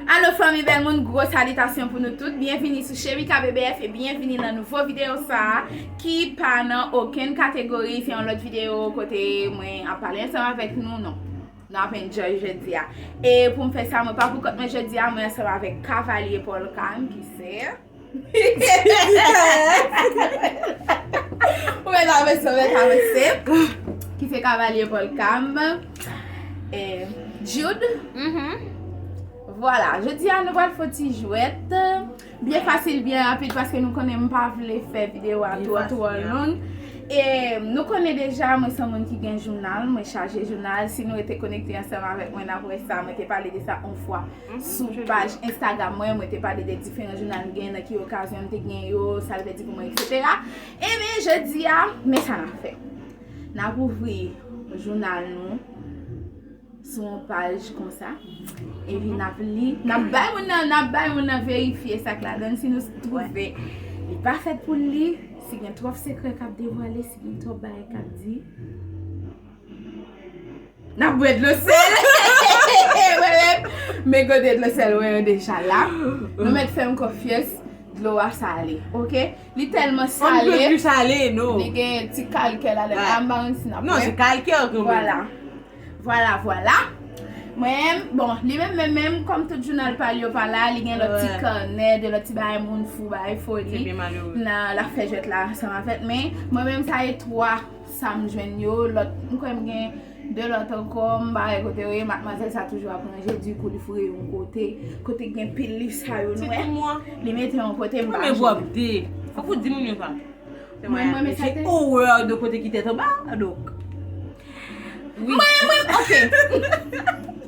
Allo fanmi bèl moun gwo salitasyon pou nou tout byenvini sou Cherika BBF e byenvini nan nouvo videyo sa ki pa nan okenn kategori se yon lòt videyo kote mwen ap pale ansanm avèk nou non nou ap enjoy jodi a e pou m fè sa mwen pa pou kont mwen jodi a mwen ansanm avèk Cavalier Paul Carme ki se. Ou mèt avanse, ou mèt avanse. Ki se kavalye volkam. E, Jude. Mm-hmm. Vwala, jodi a nou pral fon ti jwèt. Byen fasil, byen rapid, paske nou konnen m pa vle fè videyo a twò twò long. E, nou konnen deja, mwen son moun ki gen jounal, mwen chaje jounal. Si nou rete konekte ansanm avèk mwen, n ap wè sa, mwen te pale de sa on fwa. Sou paj Instagram mwen, mwen te pale de diferan jounal m genyen, nan ki okazyon m te genyen yo, sa l vle di pou mwen, eksetera. Enben, jodi a, men sa n ap fè. N ap ouvri jounal nou sou yon paj konsa. Epi n ap li, n ap bay moun nan, n ap bay moun nan verifye sa k ladan l. Si nou twouve li pa fèt pou l li, si gen twòp sekrè k ap devwale, si gen twòp bagay k ap di. Nap bwè dlo sèl. Men gode dlo sèl mwen yo deja la. Nou mèt fèm konfyes. Dlo a sale. Ok. Li telman sale. Li plis sale no. Li gen ti kalke la dan. An ba mwen si nap wè. Non se kalke yo gen. Vwala. Vwala vwala. Mwen. Bon. Li menm menm menm. Kom tout jounal pal yo pa la. Li gen lot ti kanè. De lot ti bay moun fou bay foli. Se byen malere. Nan la fè jwet la. San mafèt men. Mwen menm sa e 3. Sam jwenn yo lòt m kwè m gen 2 lòt ankò m pa wè kote yo ye matmwazèl sa toujou ap ranje di kou li foure yo yon kote kote gen pil liv sa yo nou wè li mete yon kote m pa jwenn yo mwen menm sa fòk ou di moun yo sa mwen menm sa te mwen menm ok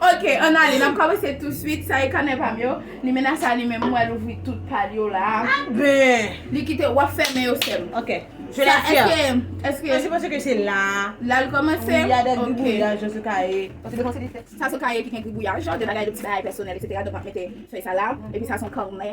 Ok an ale nap komanse tou swit sa e kanè pam yo limena sa li menm m wèl ouvri tout pal yo la ben li kite wap fèmen yo sèm ok je la tiens eske eske se paske ke se la lal komanse wi ya de gribouyaj yo se ka ye paske de konse li fè sa se ka ye ki gen gribouyaj de bagay de ti bagay pèsonèl etc donk map mete fèy sa la epi sa son kanè.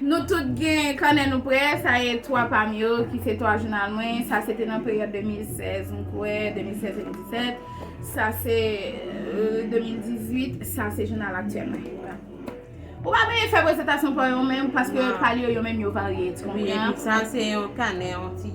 Nou tout gen kanè nou prè, sa ye 3 pa m yo ki se 3 jounal mwen, sa se te nan peryòd 2016 m kwè, 2016, 2017, sa se 2018, sa se jounal aktyèl mwen. Ou pa beye fè prezantasyon pa w yo menm paske pale yo yo menm yo varye, ti konprann? Wi, sa se yon kanè, yon ti.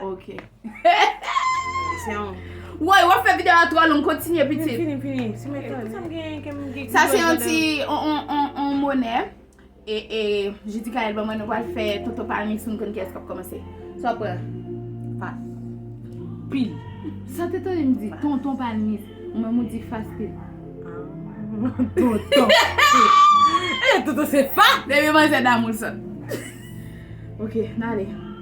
Ok. Woy wap fè video a twò long kontinye pitit. Mwen fini fini. Si mwen fè sa m gen kem gen. Sa se yon ti on monè. E je di kayèl ban mwen nou wal fè toto palmi si nou konn kiyès kap komanse. Sa wap pran. Fas. Pil. Sa te tande m di tonton palmi ou menm ou di fas pil. Toto. E toto se fa. Depi manzè damou l sot. Ok nale.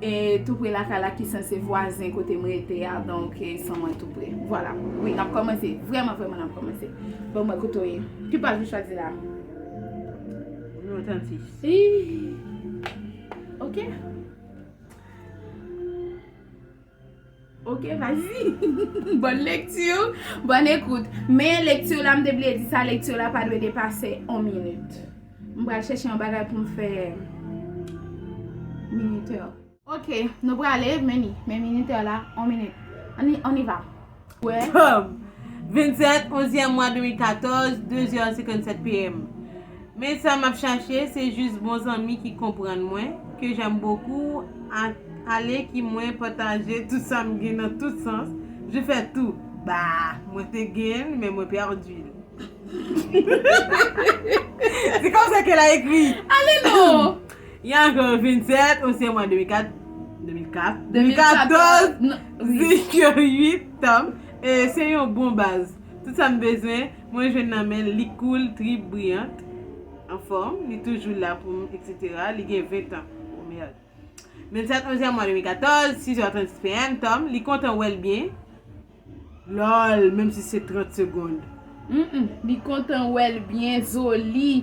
E tou pre lakay la ki sanse vwazen kote m rete a donk e san mwen tou pre. Vwala. Wi nap kòmanse. Vrèman vrèman nap kòmanse. Ban mwen kote w ye. Ki paj ou chwazi la? Nimewo 36. Iih. Ok. Ok vas-y Bonne lecture Bonne écoute Men lecture la m te bliye di sa lecture la pa dwe depase 1 minute M pral chèche yon bagay pou m fè minuteur Ok nou prale men li Men minuteur la 1 minute On y va Tom 27 onzyèm mwa 2014 2 zè 57 PM Men sa map chache se jus bon zanmi ki konprann mwen ke j'aime beaucoup ak ale ki mwen pataje tout sam gen nan tout sans je fè tou bah mwen te genl men mwen perdul se konsa ke la ekri ale non y a encore 27 on se mwa 2004 2004 2014 zik yo 8 tanm e se yon bon baz tout sam bezwen. Mwen jwenn nan menl li cool trip brillant anfòm li toujou la pou m etc li gen 20 ans oh merde 27 11 mwa 2014 6h36 PM Tom li kontan wèl byen lol menm si se 30 secondes. Humm li kontan wèl byen Zoli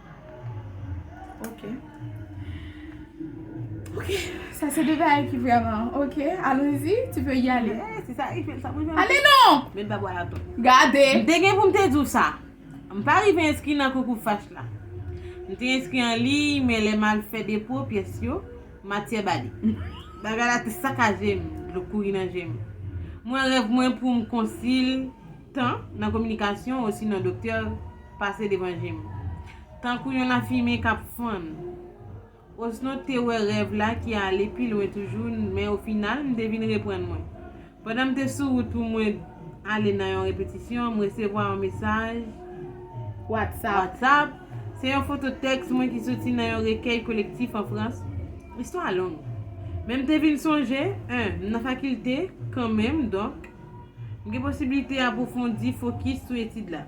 Ok Ok Sa se de bagay ki vreman Ok Alonzi Tu peux y aller Eeh se sa Eiffel sa mwen janm Ale non Men pa bwè atò Gade M te gen pou m te di w sa M pa rive enskri nan konkou FACH la M te enskri an liy men lè m al fè depo pyès yo matyè bale Bagay la te sakaje m Dlo kouri nan je m Mwen rèv mwen pou m konsil tan nan kominikasyon osinon doktè pase devan je m. Tankou yon lafimen k ap fann. Osnon m te wè rèv la ki ale pi lwen toujou men ofinal m te vin reprann mwen. Pandan m te sou wout pou mwen ale nan yon repetisyon, m resevwa yon mesaj. Whatsapp. Se yon foto tèks mwen ki soti nan yon rekèy kolektif an Frans. Istwa a long. Men m te vin sonje, 1 m nan fakilte kanmenm donk m gen posiblite apwofondi fokis sou etid la.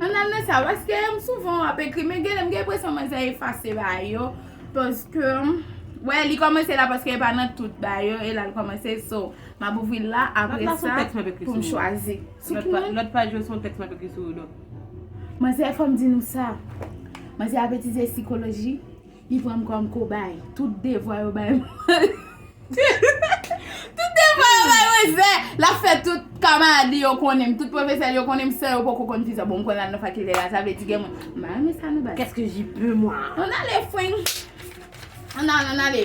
An al nan sa paske m souvan ap ekri men genlè m gen enpresyon mwen sa efase ba yo paske wè li kòmanse la paske e pa nan tout ba yo e la l kòmanse so m ap ouvri l la apre sa pou m chwazi. Lòt paj yo se yon tèks m ap ekri sou yo dòk. Manzè fò m di nou sa manzè ap etize sikoloji. Li pran m kòm kobay. Tout devwa yo bay mwen. Tout devwa yo bay mwen zè. L ap fè tout kamarad li yo konnen m. Tout pwofesè li yo konnen m san yo poko konn ki sa. Bon, m konn al nan fakilte la. Sa vle di gen moun. M pa renmen sa non baz. Qu'est-ce que j'y peux moi? An ale fwing. An ale, an ale.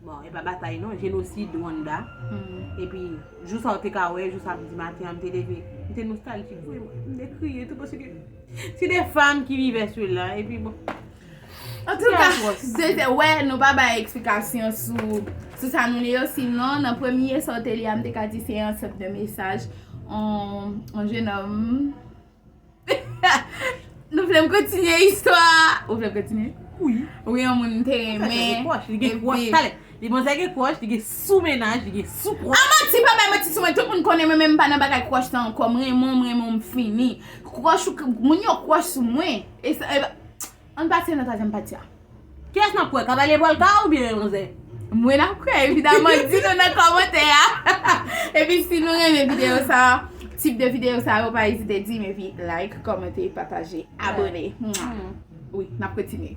Bon epa batay non jenosid Rwanda epi jou sa ou te ka wè jou samdi maten an m te leve m te nostaljik vre mwen m te kriye tou paske se de fanm ki vive sela epi bon antouka se te wè nou pa bay eksplikasyon sou sa nou li yo sinon nan premye sa ou te li a m te ka di se yon sot de mesaj yon jenòm. Nou vle m kontinye istwa a? Ou vle m kontinye? Wi. Ou gen yon moun ou te renmen. Li gen kwoch, li gen kwoch talè. Li bon zè gen kwoch, li gen sou menaj, li gen sou kwoch. A manti, pa bay manti sou mwen. Tout moun konnen mwen men m pa nan bagay kwoch lan ankò. M renmen w, m renmen w, m fini. Kwoch ou, moun yo kwoch sou mwen. E sa, e pa. Ann pase nan twazyèm pati a. Kiyès nap kwè kavalie polka ou byen yon zen. Mwen nap kwè evidaman di nou nan kòmantè a epi si nou renmen video sa tip de video sa yo pa ezite dim epi like kòmante pataje abone wi nap kontinye.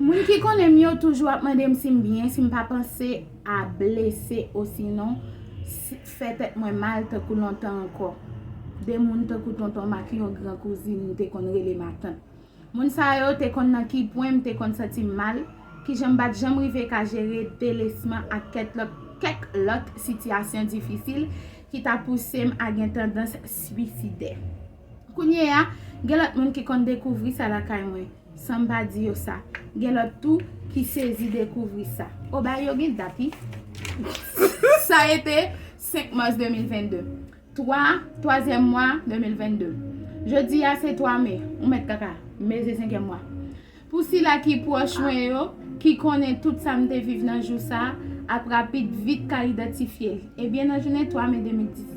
Moun ki konnen m yo toujou ap mande m si m byen, si m pa panse a blese osinon fè tèt mwen mal tankou lontan ankò. De moun tankou tonton m ak yon gran kouzin m te konn rele matant. Moun sa yo te konn nan ki pwen m te konn santi m mal, ki jan m pa t janm rive ka jere delesman ak kèk lòt sitiyasyon difisil ki ta pouse m a gen tandans swisidè. Kounyeya, gen lòt moun ki konn dekouvri sa lakay mwen. San m pa di yo sa. Gen lòt tou ki sezi dekouvri sa. O bagay yo gen dat wi. Sa e te 5 mas 2022. 3, twazyèm mwa 2022. Jodi a se 3 me. Ou mèt kaka. Me se senkyèm mwa. Pou sila ki pwòch mwen yo, ki konnen tout sa m te viv nan jou sa, ap rapid vit ka idantifye l. Ebyen nan jounen 3 me 2010.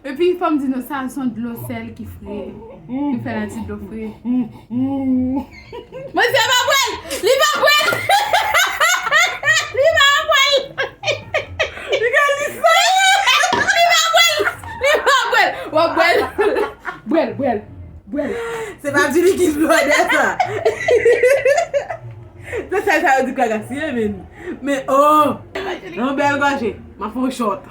Epi fòm di nou sa son dlo sèl ki fre ki fè nan ti dlo fre. Mesye pa pwèl! Li pa pwèl! Li pa pwèl! Li gen li sa! Li pa pwèl! Li pa pwèl! Wap pwèl! Pwèl pwèl! Pwèl! Se pa di li ki blòdè sa! Nan sèl sa yo di pwèl la siye menn! Men oh! Yon bèl gòje! Map fon short!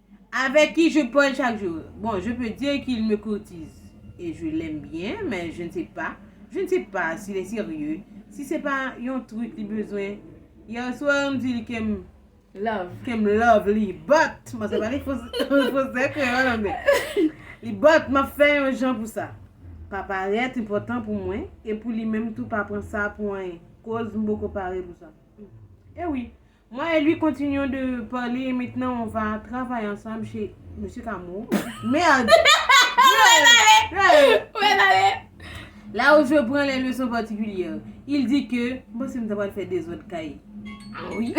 Avec qui je parle chaque jour? Bon, je peux dire qu'il me courtise et je l'aime bien, mais je ne sais pas, je ne sais pas s'il est sérieux, si se pa yon truc li bezwen. Hier soir, m di li ke m. Love. Ke m love li, but, m pase pale fransè, kreyòl, anglè. Li but, m ap fè yon jan pou sa pa parèt enpòtan pou mwen e pou li menm tou pa pran sa pou anyen, koz m poko pare pou sa. E wi, Moi et lui continuons de parler et maintenant on va travailler ensemble chez Monsieur Cameau. Merde! Là où je prends les leçons particulières. Il dit que. Mwen panse m ta pral fè dezòd kay. Ah oui.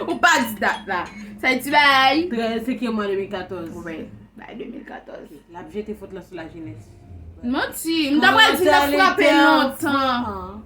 Ou pa di dat la. Sa e ti bagay. 13 sekyèm mwa 2014. Wi. Bagay 2014. L ap jete fot lan sou lajenès. Manti. M ta pral di l ap frape lontan.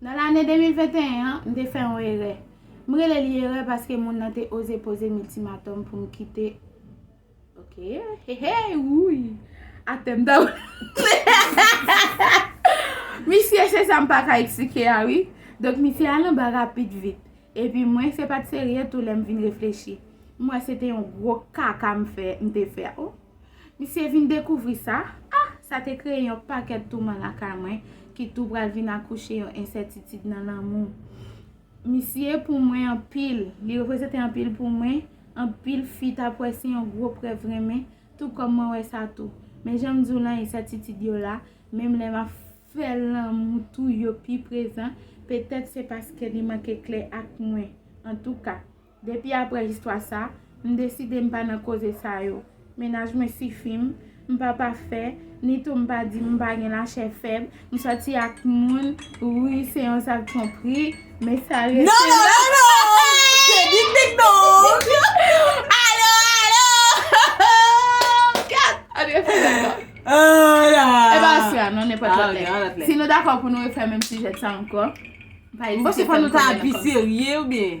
Nan lane 2021 an, m te fè yon erè. M rele li erè paske moun nan te oze poze m iltimatòm pou m kite. Ok, hey hey, wouyy! Atè m ta pral. Misye, se sa m pa ka eksplike a wi. Donk misye al anba rapid vit. Epi mwen, se pa t serye tou lè m vin reflechi. M wè se te yon gwo kaka m fè, m te fè. Misye vin dekouvri sa, ah! Sa te kreye yon pakèt touman lakay mwen ki tou pral vin akouche yon ensètitid nan lanmou. Misye pou mwen anpil, li reprezante anpil pou mwen, anpil fi t ap wè se yon gwo prèv renmen, tou kòm mwen wè sa tou. Men jan m di w lan, ensètitid yo la, menm lè m ap fè lanmou tou yo pi prezan, petèt se paske li manke klè ak mwen. Antouka, Depi aprè istwa sa, m deside m pa nan koze sa yo. Mennaj mwen sifi m, m pa pafè, ni tou m pa di m pa gen lachè fèb, m sòti ak moun, wi se yon zak twonpri, men sa rete la. Non, non, non, non! Se dik dik donk! Alo, alo! Kat! An nou refè l ankò? An la! E pa aswè a non, nenpòt lòt lè. Ok, an lòt lè. Si nou dakò pou nou refè menm sijè sa ankò, pa ezite fè m konnen l ankò. M panse fò nou ta pi serye oubyen?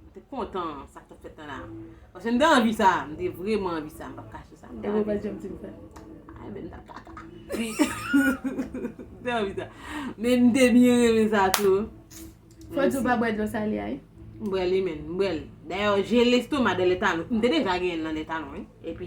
Mwen te kontan sa k t ap fèt lan la. Paske m te anvi sa. M te vreman anvi sa. M pa p kache sa. Epi w pa t janm di m sa? Ay men m t ap kaka. M te anvi sa. Men m te byen renmen sa tou. Fò di w pa bwè dlo sale a wi. M bwè li men. M bwè l. Dayè, jel estoma de lè talon. M te deja genyen l nan lè talon wi. Epi.